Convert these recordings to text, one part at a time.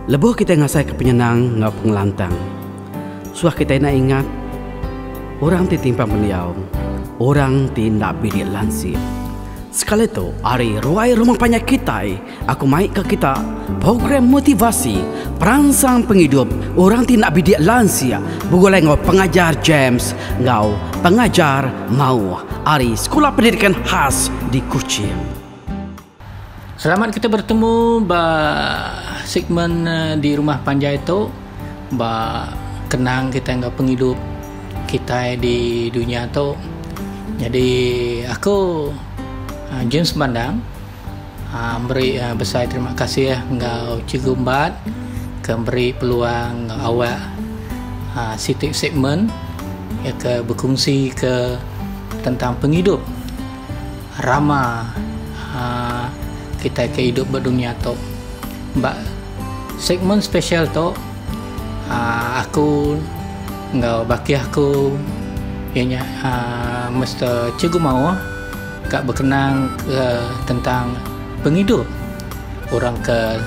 Lebuh kitai ngasaika penyenang enggau pengelantang, suah kitai enda ingat orang ti timpang pendiau, orang ti enda bilik lansik. Sekali tu, ari ruai rumah panjai kitai, aku mai ke kita Program Motivasi Peransang Pengidup Orang ti Enda Bilik Lansik begulai enggau Pengajar James enggau Pengajar Mauh ari Sekula Pendidikan Khas di Kuching. Selamat kita bertemu ba segmen di rumah panjai tu ba kenang kitai enggau pengidup kitai di dunya tu. Nyadi aku James Bandang aaa meri besai terima kasih enggau Cikgu Embat ke meri peluang enggau awak aaa siti segmen iya ke bekungsi ke tentang pengidup. Rama kitai ke idup ba dunya tu. Ba segmen special tu aku enggau bakih aku iya nya Mister Cikgu Maoh ka bekenang ke tentang pengidup orang ke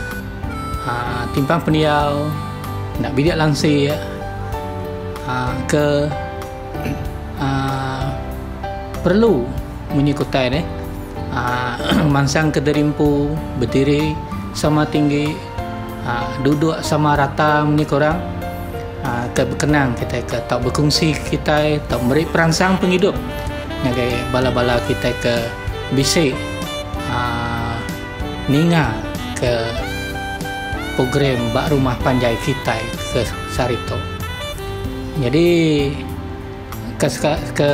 timpang pendiau enda bidik langsik ke Uh, perlu munyi kutai deh. Uh, mansang ke derimpu, bediri sama tinggi, uh, duduk sama rata munyi korang. Uh, ke bekenang kita ke tau berkongsi kita tau beri peransang penghidup ngagai bala-bala kita ke bisi uh, ninga ke program bak rumah panjai kita ke sehari tu. Nyadi ke ke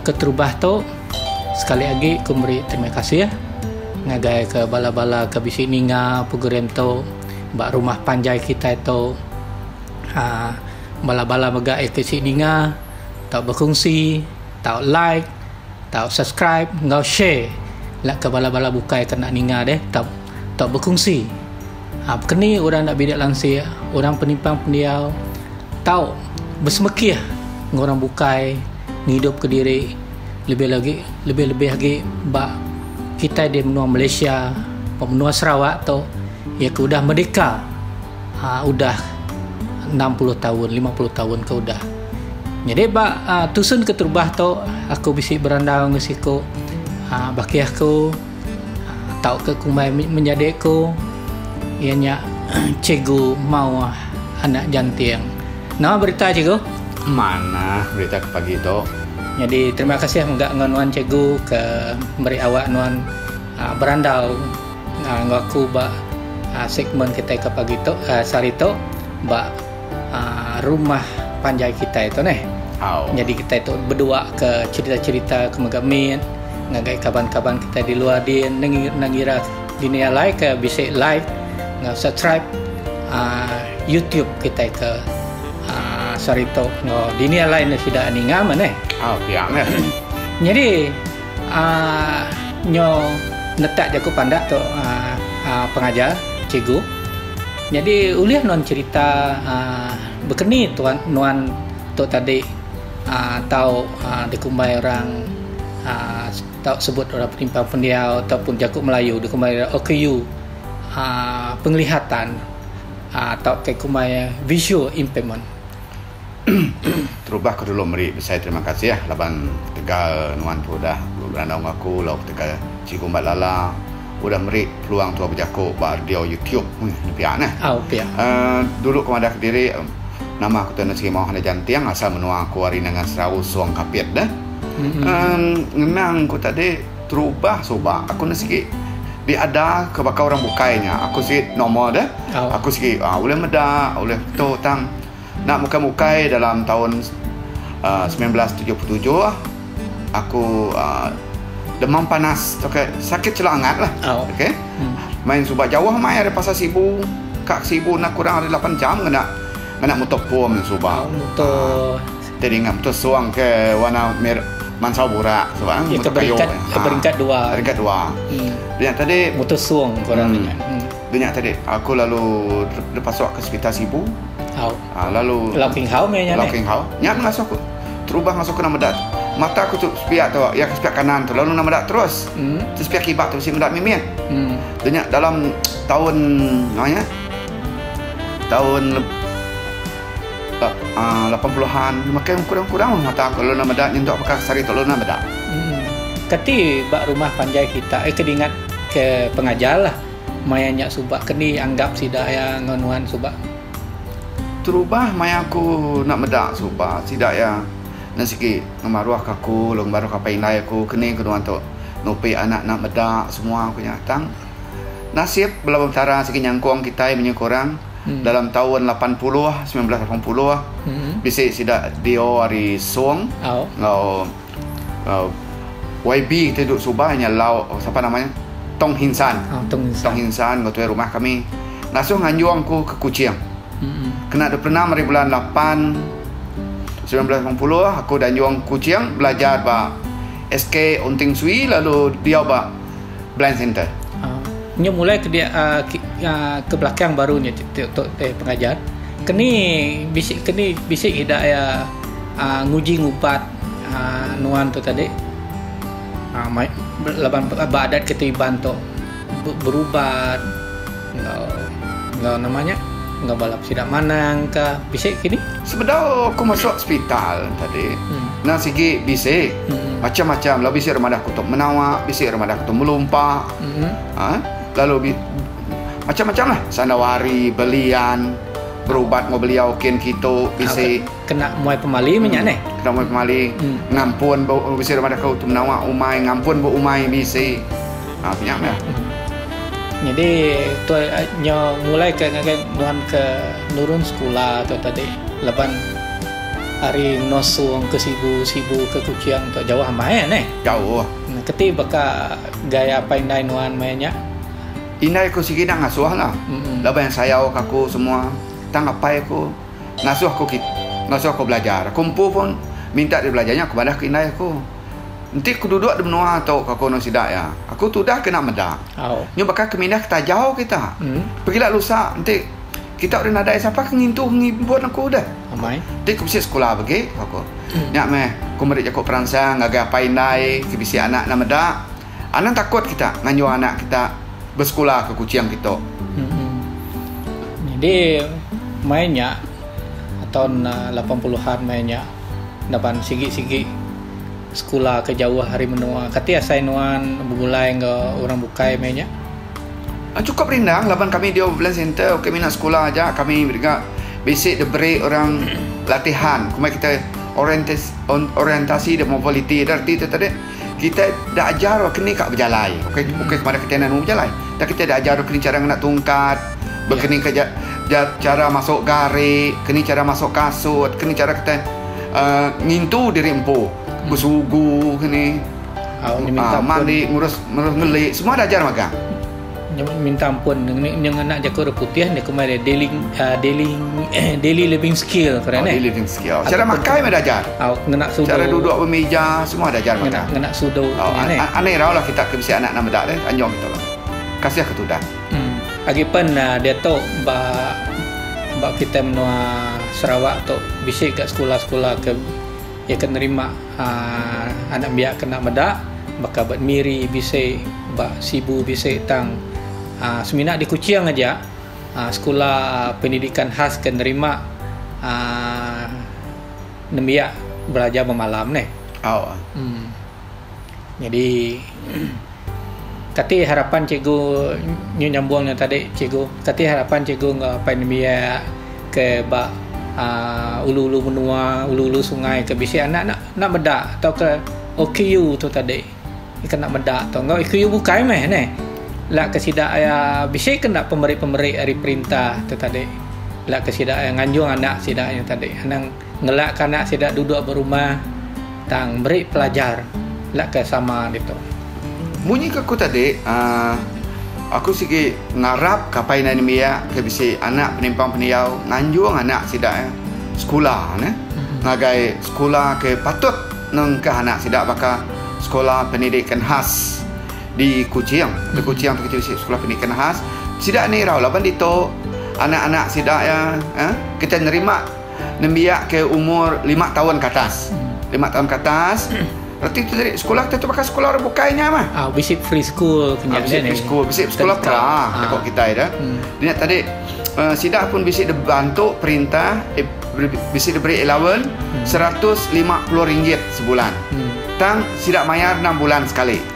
keterubah tu sekali agi ku meri terima kasih ngagai ke bala-bala ke bisi ninga program tu ba rumah panjai kitai tu aaa bala-bala mega ke bisi ninga tau berkongsi tau like tau subscribe enggau share leka bala-bala bukai ke enda ninga deh tau berkongsi. Abkeni orang enda bidik lansik, orang penimpang pendiau tau besemekih enggau orang bukai ngidupka diri lebih lagi lebih-lebih agi ba kitai di menua Malaysia, ba menua Sarawak tu iya ke udah merdeka aaa udah enam puluh taun, lima puluh taun ke udah. Nyadi ba tusun keterubah tu aku bisi berandau enggau siku aaa bakih aku. tauka kumbai menjadi ku iya nya cikgu maoh anak janting. Nama berita cikgu? Manah berita ke pagi tu. Nyadi terima kasih mega enggau nuan cikgu ke meri awak nuan aa berandau aa enggau aku ba aa segmen kitai ke pagi tu aa sehari tu ba Rumah panjai kitai tu neh. Nyadi kitai tu beduaka cherita-cherita ke mega mit ngagai kaban-kaban kitai di luar din ne ngira dini alai ke bisi like enggau subscribe YouTube kitai ke saritu enggau dini alai ne sida ninga meh neh. Nyadi nyo netak jaku pandak tu pengajar, cikgu. Nyadi ulih nuan cherita bekeni tuan nuan tu tadi tau dikumbai orang tau sebut orang penimpang pendiau ataupun jaku melayu dikumbai iya OKU pengelihatan tau ke kumbai visual impairment. Terubah aku dulu meri besai terima kasih laban ketegal nuan tu udah berandau enggau aku lalu ketegal Cikgu Mbat Lala udah meri peluang tu bejaku ba radio YouTube. Ui nya pia neh. Au pia. Uh, dulu aku madah kediri nama aku tu enda sigi mauh enda janting asal menua aku ari Nanga Serau Song Kapit deh. Mm-hmm. Uh, ngenang ku tadi terubah suba aku enda sigi diada ke baka orang bukai nya. Aku sigi normal deh. Au. Aku sigi uh, ulih meda, ulih tu tang Enda bukai bukai dalam taun semilan belas tujuh puluh tujuh aku uh, demam panas okay, sakit celak angat lah oh. okay. hmm. main suba jauh main dari pasar sibu kak sibu nak kurang dari 8 jam kena kena motor pom main suba oh, motor uh, tadi ngam motor suang ke warna mer mansau burak sebab kan motor kayu peringkat, ha. peringkat dua peringkat dua hmm. yang tadi motor suang kurang hmm. Dia nya tadi aku lalu dipasuk ke sekitar sibu. Hau. Ha, lalu Lau King Hau meh nya. Lau King Hau. Nya mengasuh aku. Terubah mengasuh aku nama dak. Mata aku tu sepiak tu, ya ke sepiak kanan tu lalu nama dak terus. Hmm. Tu sepiak kibak tu si medak mimit. Hmm. Dia nya dalam tahun nama nya? Tahun uh, 80-an makin kurang-kurang mata aku lalu nama dak nyentuk pakai sari tu lalu nama dak. Hmm. Keti bak rumah panjai kita eh kedingat ke pengajar lah. Maya nya suba ke ni anggap sida iya enggau nuan suba? Terubah maya aku enda meda suba sida iya enda sigi ngemaruhka aku lalu ngemaruhka apai indai aku ke ni ke nuan tu nupi anak enda meda semua ku nya tang nasib bela Petara sigi nyangkong kitai menyuh ke orang dalam taun lapan puluh semilan belas lapan puluh bisi sida dio ari Song enggau YB ti duduk suba nya lau sapa nama nya Tong Hin San. Oh, Tong Hin San. Tong Hin San ngetuai rumah kami. Ngasuh nganjung ku ke Kuching. Mm-mm. Kena duduk pernah mari bulan 8 1980 aku dan anjung Kuching belajar ba SK Unting Sui lalu diau ba Blind Center. Uh, nya mulai ke dia uh, ke, uh, ke belakang baru nya untuk eh, pengajar. Keni bisi keni bisi ida ya uh, nguji ngubat nuan tu tadi laban ba adat kita Iban tu berubat enggau enggau nama nya enggau bala sida manang ka bisi kini. Sebedau aku masu sepital tadi nang sigi bisi macam-macam lalu bisi ira madah aku tu menawa bisi ira madah aku tu melumpa aaa lalu macam-macam lah sanda wari belian berubat enggau beliau kin kitu bisi. Kena muai pemali menya neh. Kena muai pemali ngampun ba bisi orang madah aku tu menawa umai ngampun ba umai bisi. Ha penya meh. Nyadi tu nyo mulai ke ngagai nuan ke nurun sekula tu tadi laban ari Nosung ke Sibu, Sibu ke Kuching tu jauh amai neh. Jauh. Keti baka gaya apai indai nuan maya nya? Indai aku sigi enda ngasuhlah. Laban sayauka aku semua tang apai aku. ngasuh aku kit ngasuh aku belajar. Aku empu pun minta diri belajar nya aku madah ke indai aku. Enti ku duduk di menua tu ka ku enun sida iya, aku tudah kena meda. Nyu baka ke mindah ke tajau kita. Pegila lusa enti kita ulih nadai sapa ke ngintu ke ngimpun aku deh. Enti ku bisi sekula bagi ka ku. Nya meh ku meri jaku peransang ngagai apai indai ke bisi anak enda meda. Anang takut kita nganjung anak kita besekula ke Kuching kitu. Hmm. Jadi mai nya tahun uh, lapan puluhan mai nya laban sigi-sigi sekula ke jauh hari menua. Kati asai nuan begulai enggau orang bukai mai nya? Ah, cukup rindang laban kami di Overland Center ke minat sekula aja kami dega bisi diberi orang latihan. Kumai kita orientasi, orientasi dan mobiliti. Ada arti tu tadi. Kitai da ajar orang ke ni ka bejalai. Ukai ukai kemada kitai enda nemu bejalai. Dak kitai da ajar orang ke ni chara ngena tungkat, bekeni ke ja ja chara masuk gari, ke ni chara masuk kasut, ke ni chara kitai uhh ngintu diri empu, besugu ke ni, uhh mandi, ngurus ngurus ngeli semua da ajar magang. Nyebut minta ampun nya ngena jaku orang putih nya kumbai dia daily uh, daily eh, daily living skill keren oh, eh. Daily living skill. Cara Ataupun makan mah ajar. Oh, ngena sudu. Cara duduk bermeja semua ajar makan. Ngena, ngena sudu. Oh, an, an, aneh rau lah kita ke bisi anak nama dak deh. Anjong kita lah. Kasih ke tudah. Hmm. Agi pen uh, dia tu ba ba kita menua Sarawak tu bisi ke sekolah-sekolah ke ya ke nerima Haa anak biak kena meda baka ba Miri bisi ba Sibu bisi tang haa semina di Kuching aja haa sekula pendidikan khas ke nerima haa nembiak belajar bemalam neh. Au. Em. Nyadi. Kati harapan cikgu nyu nyambung nang tadi cikgu. Kati harapan cikgu enggau apai nembiak ke ba uh, ulu-ulu menua, ulu-ulu sungai ke bisi anak nak nak meda tauka OKU tu tadi. Ika nak meda tu enggau OKU bukai meh neh. La ke sida iya bisi ke enda pemeri-pemeri ari perintah tu tadi. La ke sida iya nganjung anak sida nya tadi. Anang Ngelak ke anak sida duduk ba rumah tang meri pelajar enda ke sama ditu. Munyi ke aku tadi uhh aku sigi ngarap ke apai indai nembiak ke bisi anak penimpang pendiau nganjung anak sida iya sekula neh ngagai sekula ke patut nengkah anak sida baka Sekula Pendidikan Khas di Kuching. Di Kuching tu kitai bisi Sekula Pendidikan Khas. Sida ni irau laban ditu anak-anak sida iya uhh kitai nerima. nembiak ke umur lima taun ke atas, lima taun ke atas, reti tu tadi sekolah kita tu baka sekolah orang bukai nya mah. Ah, bisi free school punya. Ah, bisi free school, bisi sekolah pra deko ah. kita ida. Hmm. Nya tadi uh, sida pun bisi dibantu perintah eh, bisi diberi allowance hmm. RM150 sebulan. Hmm. Tang sida mayar 6 bulan sekali.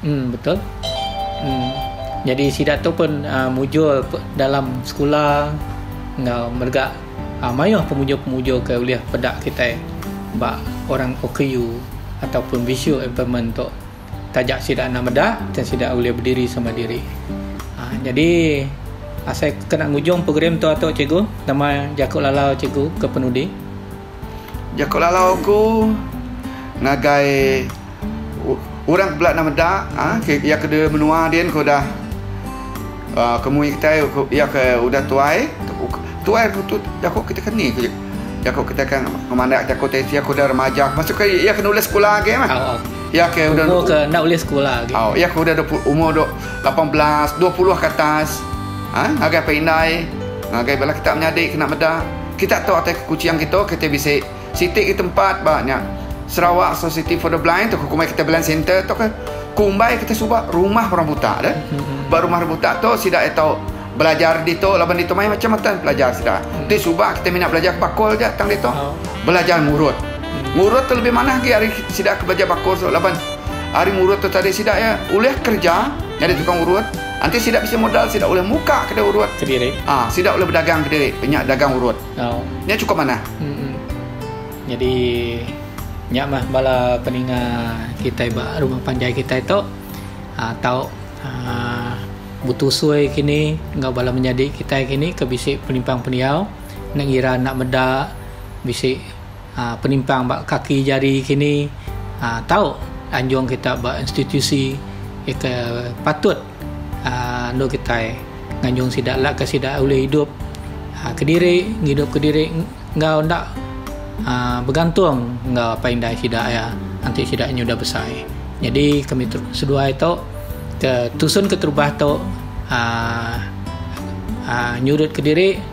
Em betul. Em jadi sida tu pun uh, mujur dalam sekula enggau merga uh, mayuh pemujur-pemujur ke ulih peda kita ba orang OKU ataupun visual impairment tu taja sida enda meda dan sida ulih berdiri sama diri. Uh, jadi asai kena ngujung program tu atuk cikgu nama jaku lalau cikgu ke penudi. Jaku lalau aku ngagai orang ke bela enda meda iya ke di menua din ke udah kemui kitai iya ke udah tuai tuai tu jaku kita ke ni jaku kita ke ngemanda jaku ti aku dah remaja masuk ke iya ke enda ulih sekula agi meh iya ke udah iya ke udah umur lapan belas dua puluh ke atas ngagai apai indai ngagai bala kita menyadi kena meda. Kita tu atai ke Kuching kitu kita bisi siti agi tempat ba nya Sarawak Society for the Blind tu ke kumbai kita blind center tu ke kumbai kita suba rumah orang buta deh. Ba rumah orang buta tu sida iya tau belajar ditu laban ditu mayuh macam matan pelajar sida. Ti suba kita mina belajar ke bakul aja tang ditu. Belajar ngurut. Ngurut tu lebih manah agi ari sida ke belajar bakul tu laban ari ngurut tu tadi sida iya ulih kerja nyadi tukang urut. Enti sida bisi modal sida ulih muka kedai urut. Kediri. Ah, sida ulih bedagang kediri pe nya dagang urut. Au. Nya chukup manah. Mm-mm. Nyadi nya mah bala peninga kitai ba rumah panjai kitai tu ah, tau ah, betusui kini enggau bala menyadi kitai kini ke bisi penimpang pendiau enda ngira enda meda bisi penimpang ba kaki jari kini tau anjung kita ba institusi ke patut endur kitai nganjung sida laka sida ulih idup kediri ngidup kediri enggau enda begantung enggau apai indai sida iya enti sida nyudah besai jadi kami seduai tu ke tusun keterubah tu aaa nyurut kediri.